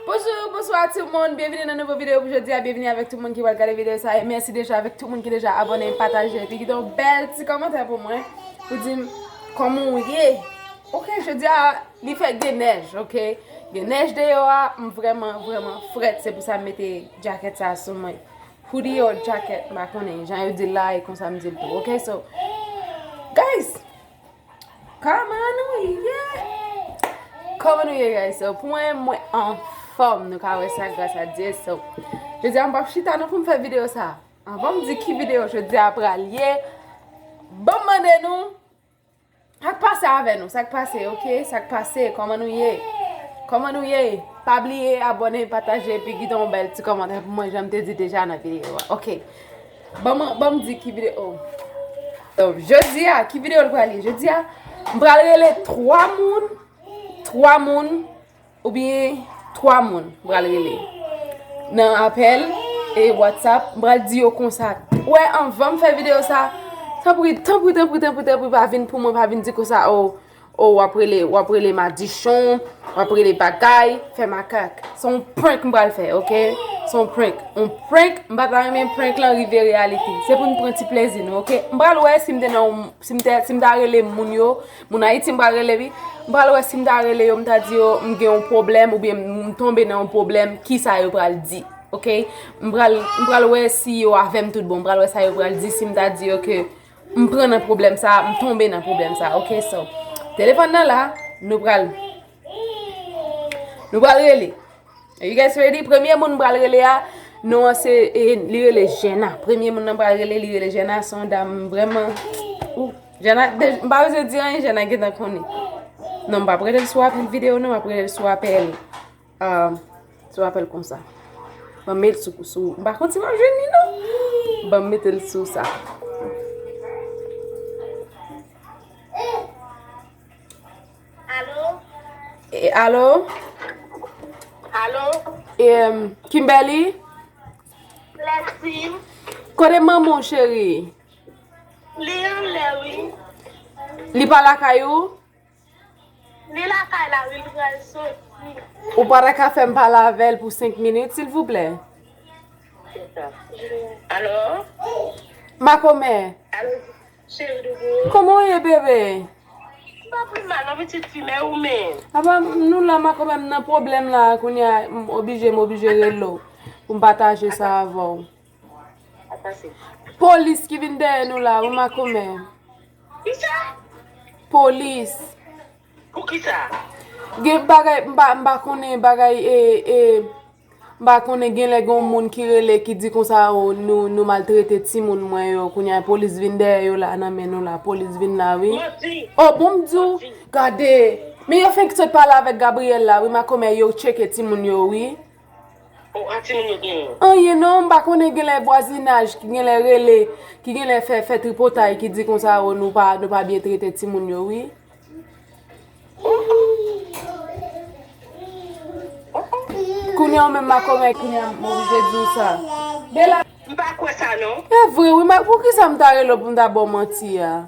Bonjour, bonsoir tout moun, byenvini nan nouvo video pou jodi a, byenvini avèk tout moun ki pral gade video sa e mèsi deja avèk tout moun ki deja abòne, pataje epi kite yon bèl ti kòmantè pou mwen pou di m kòman ou ye ok, jodi a li fèk gen nèj ok, gen nèj deyò a m vrèman vrèman frèt se pou sa m mete djakèt sa sou mwen hoodie or jacket m pa konnen jan yo di l la e konsa m di l tou ok, so guys! Kòman nou ye? Kòman nou ye guys? So pou mwen, mwen anfòm nou ka wè sa gras a Dye. So, jodi a m pap chita non pou m fè videyo sa. Anvan m di ki videyo jodi a pral ye, ban m mande nou, sak pase avè nou? Sak pase ok? Sak pase? Kòman nou ye? Kòman nou ye? Pa bliye abòne, pataje, epi kite yon bèl ti kòmantè pou mwen jan m te di deja nan videyo a. Ok. Banm di ki video oh Jodi a ki video li pral ye Jodi a m pral rele 3 moun 3 moun Ou byen 3 moun m pral rele Nan apel e whatsapp M pral di yo konsa Ou wè anvan m fè video sa Tanpri tanpri tanpri tanpri Pa vin pou mwen pa vin di konsa oh Oh wap rele wap rele madichon wap rele bagay fè makak se yon prank m pral fè ok se yon prank yon prank m pa ta renmen prank lan rive reyalite se pou n pran ti plezi nou ok m pral wè si m te nan yon si m te si m ta rele moun yo moun ayiti m pral rele wi m pral wè si m ta rele yo m ta di yo m gen yon pwoblèm oubyen m tonbe nan yon pwoblèm kisa yo pral di ok m pral m pral wè si yo avè m tout bon m pral wè sa yo pral di si m ta di yo ke M pran nan problem sa a, m tonbe nan problem sa a ok so Telefon nan la, nou pral Nou pral rele Are you guys ready? Premye moun m pral rele a Non an se, li rele Jenna Premye moun nan m pral rele li rele Jenna son dam vreman Ooh Jenna, m pa bezwen di anyen Jenna gentan konnen Non m pap rele l sou apèl video non, m ap rele l sou apèl Sou apèl konsa. Ban m met l sou. M pa konn si m ap jwenn li non. Ban m mete l sou sa. Alo. Alo. Alo. Kimberly. Lèsim. Kote manman ou cheri? Li anlè wi. Li pa lakay ou? Li lakay la wi li pral soti. Ou pa ta ka fèm pale avèl pou 5 minit silvouplè? Alo? Makomè? Alo cheri doudou? Kòman ou ye bebe? M pa pi mal non pitit fi men ou menm? Apa nou la makomè m nan pwoblèm la kounya m oblije m oblije rele w pou m pataje sa avè w. Polis ki vin dèyè nou la wi makomè. Kisa? Polis. Pou kisa? Gen bagay m pa konnen bagay e e m pa konnen gen lè gon moun ki rele ki di konsa o nou maltrete timoun mwen yo kounya e polis vin dèyè yo la nan men nou la polis vin la wi. Manti. O bon m di w gade men yo fenk sot pale avèk Gabriel la wi makomè yo tcheke timoun yo wi. Anyen non, m pa konnen genlè vwazinaj ki genlè rele, ki genlè fè fè tripotay ki di konsa o nou pa nou pa byen trete timoun yo wi. Kounya ou menm makomè kounya m oblije di w sa. E vre wi, poukisa m ta rele w pou m ta ba w manti a?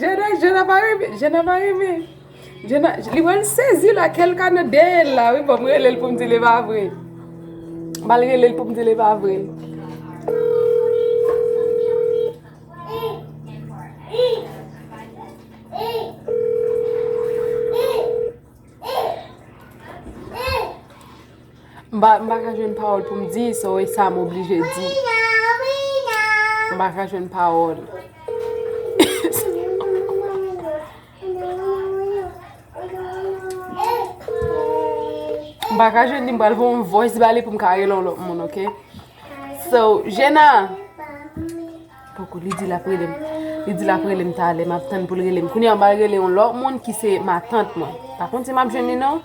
Jana jana pa renmen jana pa renmen jana li pral sezi la kèl ka nan dèyèl la wi banm relel poum dil epa vre bal relel poum dil epa vre M pa ka jwenn pawòl pou m di so e sa m oblije di. M pa ka jwenn pawòl. M pa ka jwenn li m pral fè yon voice ba li pou m ka rele yon lòt moun ok. So Jena. Poko li di l ap rele m. Li di l ap rele m talè m ap tann pou l rele m. Kounye an m pral rele yon lòt moun ki se matant mwen. Pa konn si m ap jwenn li non.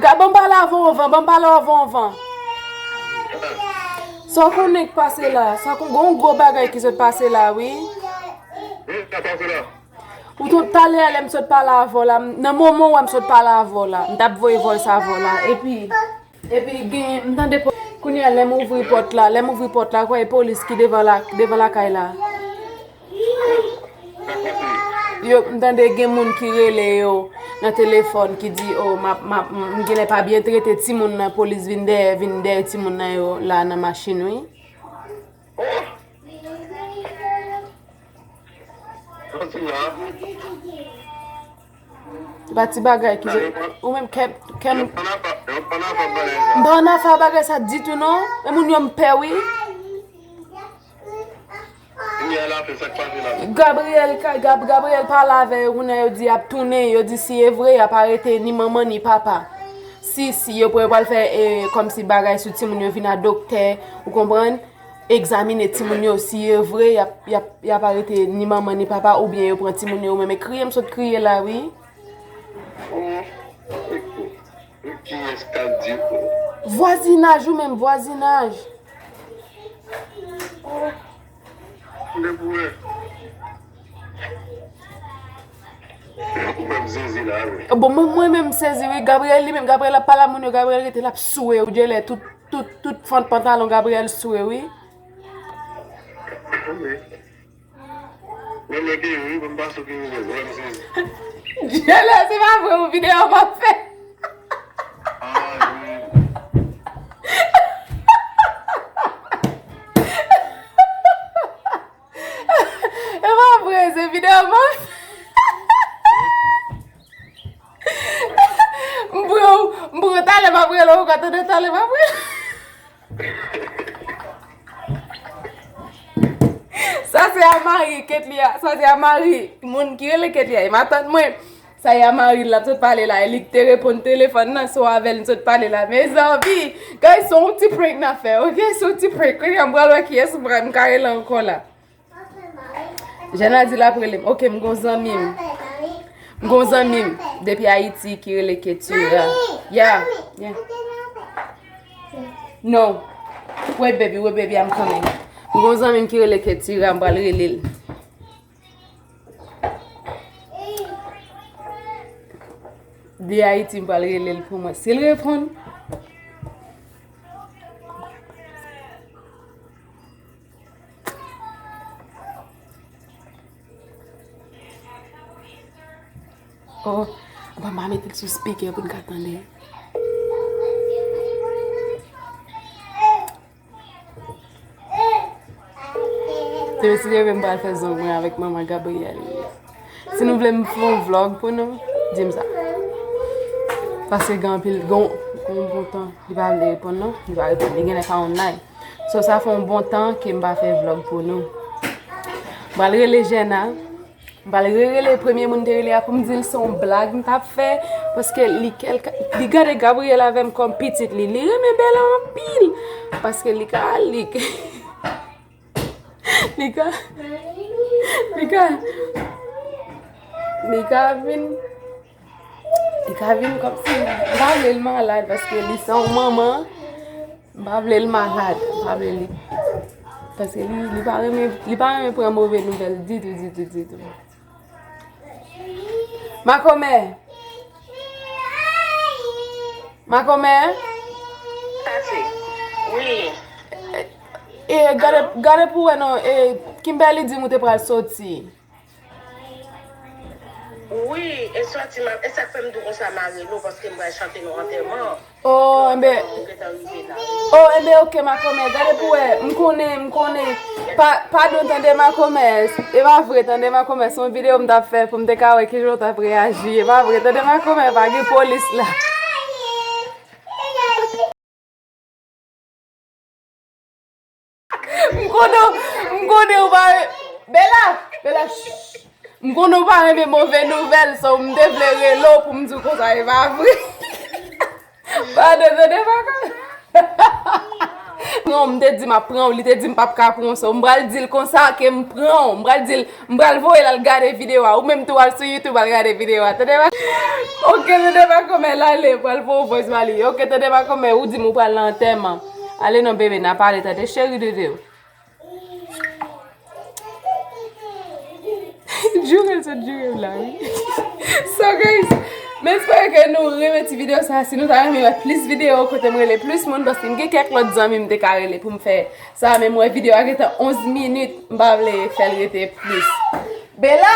Gad banm pale avan ou van, banm pale avan ou van. Sa w konnen k pase la? Sa kon gon gwo bagay ki sot pase la wi. Ou tout talè a lè m sot pale avè w la, nan moman w a m sot pale avè w la, m tap voye voice avè w la. Epi. Epi gen m tande po. Kounye a lè m ouvri pòt la, lè m ouvri pòt la, kwè e polis ki devan la, devan lakay la. Yo, m tande gen moun ki rele yo nan telefòn ki di o m ap, m ap, m genlè pa byen trete timoun nan, polis vin dèyè, vin dèyè timoun nan yo la nan machin wi. Kontinye a. Se pa ti bagay ki vle. Ou menm kèm. Yo pran afa yo pran afa ak bagay sa. M pa pran afa ak bagay sa ditou non. E moun yo m pè wi. Kounye a la fè sa k pase la. Gabriel ka gab Gabriel pale avè yo kounye a yo di y ap tounen. Yo di si e vre y ap arete ni manman ni papa. Si si yo pral fè kòmsi bagay sou timoun yo vin a doktè. Ou konprann? Egzamine timoun yo si yo vre y ap arete ni manman ni papa oubyen yo pran timoun yo menm kriye m sot kriye la wi. Vwazinaj ou menm vwazinaj. Bon mwen menm sezi wi Gabriel li menm Gabriel ap pale a moun yo Gabriel rete l ap soure ou genlè tout. Tout tout fant pantalon Gabriel swe wi. Ok. Mwen mwen gen yon wi bon pa sou ki nouvel wè m sezi. Dyolo se pa vre ou video map fè. Se pa vre se video map fè. M pran w, m pran w talè m ap rele w ankò tande talè m ap rele w. Sa se a mari Ketly a, sa se a mari moun ki rele Ketly a, e matant mwen. Sa e a mari l l ap sot pale la e li k te reponn telefòn nan se w avè l m sot pale la mezanmi. Gayz se yon ti prank n ap fè ok, se yon ti prank kounye a m pral wè kiyès m pral m ka rele ankò la. Jana di lap relem. Ok m gon zanmim. M gon zanmim depi Haiti ki rele Ketura. Yeah. Yeah. No. Wait baby, wait baby, I'm coming. M gon zanmim ki rele Ketura, m pral relel. Di Haiti m pral relel pou mwen. Sil repon. Oh, mwen mwen mwen te sou speaker pou n ka tande. Te mwen si leve mwen bal fè zon mwen avèk mwen mwen gabri yè li. Si nou vle mwen foun vlog pou nou, di m sa. Pase gen anpil, gen yon bouton li bal de epon nou, li bal de epon nou, li gen lè pa yon like. So sa fè yon bon tan ke m pa fè vlog pou nou. M pral rele Jenna. M pral re-rele premye moun m te rele a pou m di l se yon blag m t ap fè. Paske li kelke, li gade Gabriel avè m kòm pitit li. Li renmen Bella anpil. Paske li ka al, li ka, li ka, li ka, li ka vin. Li ka vin kom si, m pa vle l malad paske li se yon manman, m pa vle l malad, m pa vle li, paske li pa renmen, li pa renmen pran move nouvel ditou, ditou, ditou. Makomè! Makomè! Tati, wi! E, gade, gade pou wè non, e, Kimberly di m ou te pral soti. Wi e sòti mal esak fèm dou konsa marelo paskem pral chante nou antèman an Oh enben antèman an ou gentan rive la wi. Oh enben ok makomè gade pou wè m konnen m konnen padon tande makomè e pa vre tande makomè son video m tap fè poum te ka wè kijan ou tap reyaji e pa vre tande makomè pa gen polis la. M konnen m konnen ou pa Bella Bella shh M konnen ou pa renmen move nouvèl so m te vle rele w pou m di w konsa e pa vre Pardon tande vagabon Non m te di m ap pran w li te di m pap ka pran w so m pral di l konsa ke m pran w m pral di l m pral voye l al gade video a ou menm tou al sou youtube al gade video a tande vagabon Ok tande vagabon men lale pral voye w voice ba li Ok tande vagabon men ou di m ou pral nan antèman Ale non bebe na pale tande cheri de de. Jure sot jure la wi. So guys, men espere ke nou renmen ti video sa. Si nou ta renmen wè plis video kote mwen rele plis moun. Paske m gen kèk lòt zanmi m te ka rele pou m fè sa. Men mwen video a gentan 11 minit. M pa vle fèl rete plis. Bela!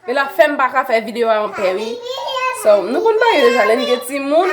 Bela fèm pa ka fè video a anpè wi. So nou konn bagay deja lè n gen ti moun.